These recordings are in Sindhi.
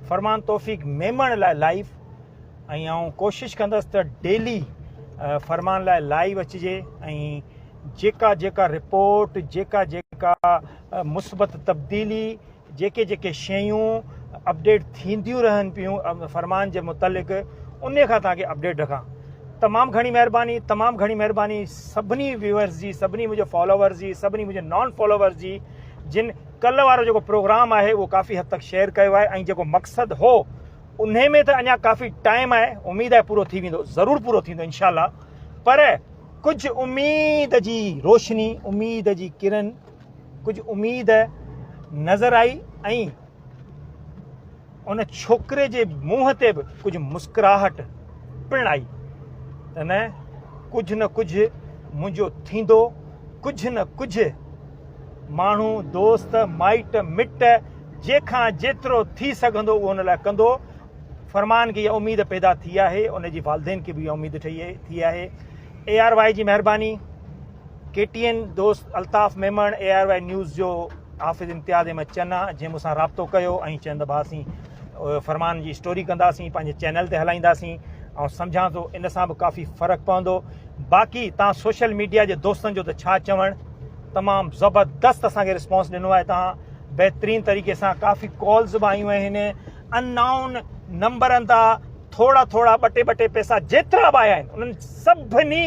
فرمان توفيق ميمڻ لاء لائيو ۽ آئون ڪوشش ڪندس ته ڊيلي فرمان لاء لائيو اچجي ۽ جيڪا جيڪا رپورٽ جيڪا جيڪا مثبت تبديلي جيڪي جيڪي شيون اپڊيٽ ٿينديون رهن پيون فرمان جي متعلق ان کان تان کي اپڊيٽ رکان تمام گھڻي مهرباني تمام گھڻي مهرباني سڀني ويورز جي سڀني منهنجي فالوورز جي سڀني منهنجي نان فالوورز جي جن ڪلهه وارو جيڪو پروگرام آهي اهو ڪافي حد تڪ شيئر ڪيو آهي ۽ جيڪو مقصد هو انهي ۾ ته اڃا ڪافي ٽائيم آهي اميد آهي پورو ٿي ويندو ضرور پورو ٿيندو انشاء الله پر ڪجهه اميد جي روشني اميد جي ڪرن ڪجهه اميد نظر آئي ۽ ان ڇوڪري جي منهن تي به ڪجهه مسڪراهٽ پڻ آئي ته نه ڪجهه نه ڪجهه منهنجو ٿيندو ڪجهه نه ڪجهه ماڻهو دوست مائٽ مٽ جيکان جيترو ٿي سگهندو اهو ان لاء ڪندو فرمان کي اها اميد پيدا ٿي آهي ان جي والدين کي به اها اميد ٺهي ٿي آهي اي آر واء جي مهرباني ڪي ٽي اين دوست Altaf Memon A R Y news جو حافظ امتياز احمد چنا جنهن مون سان رابطو ڪيو ۽ چين ته ڀا سين فرمان جي اسٽوري ڪنداسين پنهنجي چينل تي هلائينداسين آئون سمجهان ٿو ان سان به ڪافي فرق پوندو باقي تان سوشل ميڊيا جي دوستن جو ته ڇا چوڻ تمام زبردست اسان کي رسپانس ڏنو آهي تان بهترين طريقي سان ڪافي ڪالز به آيون آهن ان نائون نمبرن تان ٿورا ٿورا ٻه ٽي ٻه ٽي پيسا جيترا به آيا آهن انهن سڀني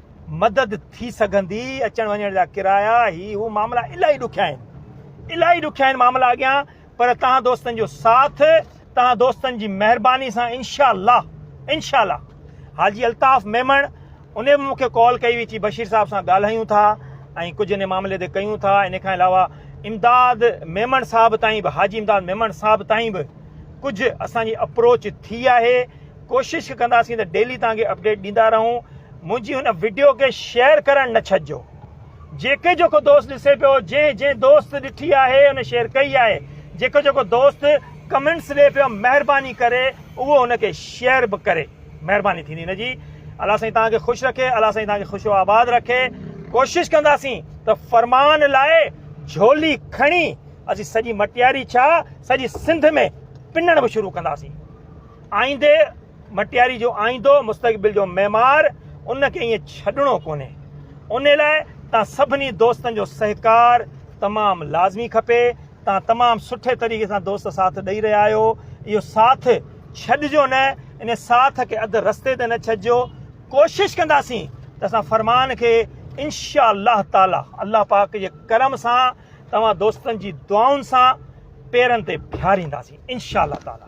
مدد ٿي سگهندي، اچڻ وڃڻ جا ڪرايا، هي هو معاملا الاهي ڏکيا آهن. الاهي ڏکيا آهن معاملا اڳيان پر توهان دوستن جو ساٿ، توهان دوستن جي مهرباني سان انشاء الله انشاء الله حاجي الطاف ميمڻ انهي به مون کي ڪال ڪئي هئي چي بشير صاحب سان ڳالهايون ٿا ۽ ڪجهه انهي معاملي تي ڪيون ٿا انهي کان علاوه امداد ميمڻ صاحب تائين به حاجي امداد ميمڻ صاحب تائين به ڪجهه اسان جي اپروچ ٿي آهي ڪوشش ڪنداسين ته ڊيلي توهان کي اپڊيٽ ڏيندا رهون منهنجي هن وڊيو کي شيئر ڪرڻ نه ڇڏجو جيڪي جيڪو دوست ڏسي پيو جنهن جنهن دوست ڏٺي آهي ان شيئر ڪئي آهي جيڪو جيڪو دوست ڪمنٽس ڏي پيو مهرباني ڪري اهو ان کي شيئر به ڪري مهرباني ٿيندي نه جي الله سائين توهان کي خوش رکي الله سائين توهان کي خوش و آباد رکي ڪوشش ڪنداسين ته فرمان لاء جھولي کڻي اسين سڄي مٽياري ڇا سڄي سنڌ ۾ پنڻ به شروع ڪنداسين آئيندي مٽياري جو آئيندو مستقبل جو معمار ان کي ائين ڇڏڻو ڪونهي ان لاء تان سڀني دوستن جو سهڪار تمام لازمي کپي تان تمام سٺي طريقي سان دوست ساٿ ڏئي رهيا آهيو اهو ساٿ ڇڏجو نه ان ساٿ کي اڌ رستي تي نه ڇڏجو ڪوشش ڪنداسين ته اسان فرمان کي انشاء الله تعالي الله پاڪ جي کرم سان توهان دوستن جي دعائن سان پيرن تي بيهارينداسين انشاء الله تعالي